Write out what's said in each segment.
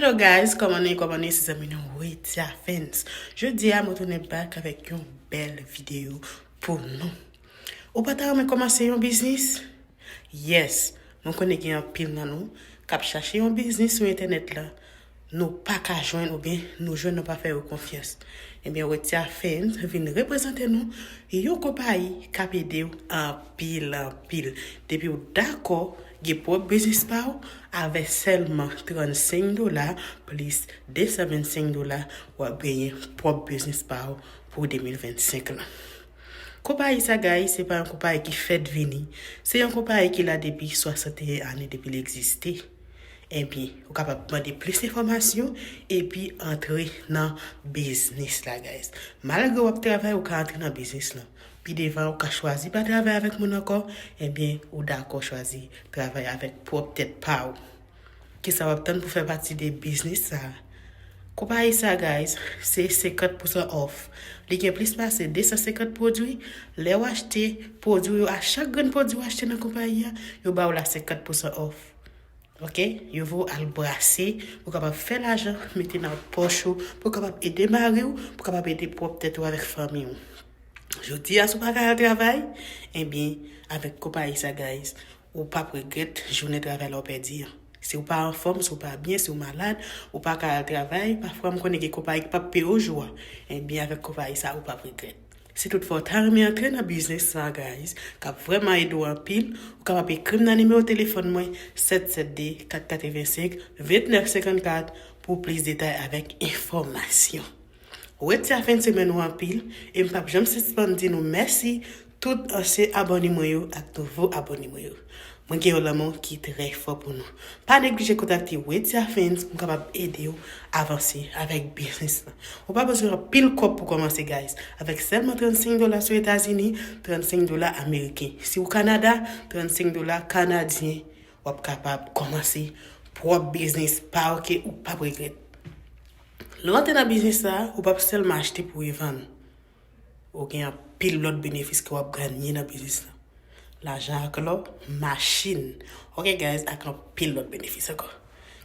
Hello guys koman nou ye koman nou ye se zanmi nou Widya Fans jodi a mwen tounen back avèk yon bèl video pou nou ou pa ta renmen komanse yon biznis yes mwen konnen gen anpil nan nou kap chache yon biznis sou entènèt la nou pa ka jwenn ou bien nou jwenn nou pa fè yo konfyans e bien Widya Fans vin reprezante nou yon konpayi kap ede ou anpil anpil depi ou dakò Gen pwòp biznis pa w, avè sèlman 35 dola plis 225 dola w ap genyen pwòp biznis pa w pou 2025 lan. Konpayi Sagaï se pa yon konpayi ki fèt vini, se yon konpayi ki la depi 61 ane depi l egziste. Ebyen, ou kapab mande plis enfòmasyon epi antre nan biznis la guys. Malgre w ap travay ou ka antre nan biznis lan. Pi devan ou ka chwazi pa travay avèk moun ankò, ebyen ou dakò chwazi travay avèk pwòp tèt pa ou. Kisa wap tann pou fè pati de biznis sa? Konpayi sa guys se 50 pousan òf, li gen plis pase 250 pwodwi, lè ou achte pwodwi yo a chak grenn pwodwi ou achte nan konpayi a, yo ba ou la 50 pousan òf. Ok yo vre w al brase pou kapab fè lajan mete nan pòch ou pou kapab ede mari w pou kapab ede pwòp tèt ou avèk fanmi w jodi a si w pa ka al travay ebyen avèk konpayi sa guys ou pap regrèt jounen travay la w pèdi an si w pa anfòm si w pa byen si w malad ou pa ka al travay pafwa m konnen gen konpayi ki pap peye w jou a ebyen avèk konpayi sa ou pap regrèt. Si tout fwa ou ta renmen antre nan biznis sa guys kap vrèman ede w anpil ou kapab ekri m nan nimewo telefòn mwen 772 485 29 54 pou plis detay avèk enfòmasyon. Wete a fen semèn ou anpil e m pap janm sispann di nou mèsi tout ansyen abòne mwen yo ak nouvo abòne mwen yo. Mwen gen yon lanmou ki trè fò pou nou. Pa neglije kontakte Wedya Fans pou m kapab ede w avanse avèk biznis lan. Ou pa bezwen anpil kòb pou kòmanse guys. Avèk sèlman 35 dola si w Etazini, 35 dola ameriken. Si w Kanada, 35 dola kanadyen w ap kapab kòmanse pwòp biznis pa w ke ou p ap regrèt. Lè w antre nan biznis sa a, ou p ap sèlman achte pou revann. Ou gen anpil lòt benefis ke wap ganye nan biznis lan. Lajan ak lò, machin, ok guys ak anpil lòt benefis ankò.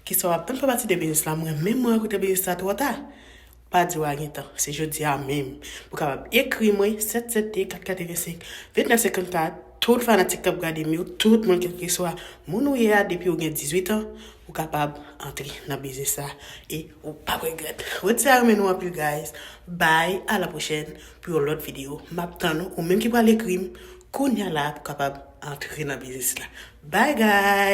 Kisa wap tann fè pati de biznis lan mwen menm mwen regrete biznis la twò ta? Pa di wa gen tan, se jodi a menm. Ou kapab ekri mwen 772 485 2954. Tout fanatik kap gadem yo tout moun kelkeswa moun ou ye a depiw gen 18 ans ou kapab antre nan biznis sa e ou pap regrèt wed sa renmen nou anpil guys bby a la prochèn pou yon lòt video map tann ou ou menm ki pral ekrim kounya la pou kapab antre nan biznis la bby guys.